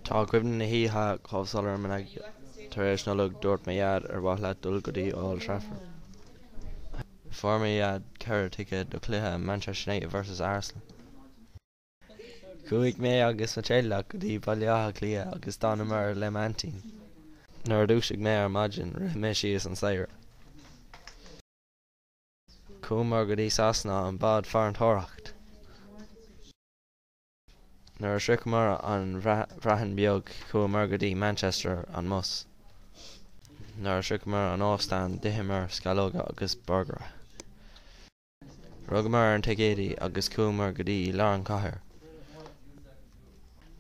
Tá cuimhne na hoíche chomh soiléir im' aigne. Tar éis Nollag, dúirt mo dhaid, ar mhaith leat dul go dtí Old Trafford? Fuair mo dhaid ceithre ticéad do chluiche Manchester United versus Arsenal. Chuaigh mé agus mo theaghlach go dtí Baile Átha Cliath agus d'fhanamar le m'aintín. Nuair a dhúisigh mé ar maidin, rith mé síos an staighre. Chuamar go dtí Sasana, an bád farantóireacht. Nuair a shroicheamar an Bhreatain Beag chuamar go dtí Manchester an mbus. Nuair a shroicheamar an óstán d'itheamar sceallóga agus borgaire. Rugamar ar an ticéadaí agus chuamar go dtí lár an chathair.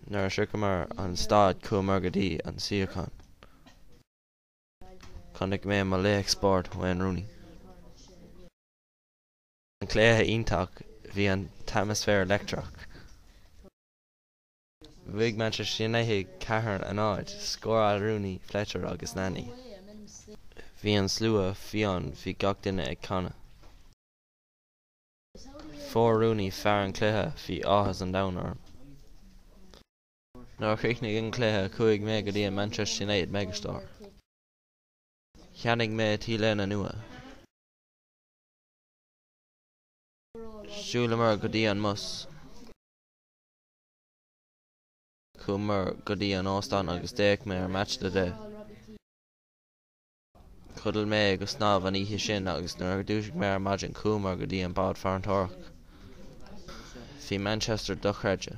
Nuair a shroicheamar an staid chuamar go dtí an suíochán. Chonaic mé mo laoch spóirt Wayne Rooney. an cluiche iontach bhí an t-atmaisféar leictreach. Bhuaigh Manchester United ceathar a náid, scóráil Rooney, Fletcher agus Nani. Bhí an slua fiáin bhí gach duine ag canadh. Fuair Rooney fear an cluiche bhí áthas an domhain orm. Nuair a chríochnaigh an cluiche chuaigh mé go dtí an Manchester United Megastore. Cheannaigh mé T-léine nua. Shiúlamar go dtí an mbus. Chuamar go dtí an óstán agus d'fhéach mé ar Match of the Day. Chodail mé go snámh an oíche sin agus nuair a dhúisigh mé ar maidin chuamar go dtí an bád farantóireacht. Bhí Manchester dochreidte.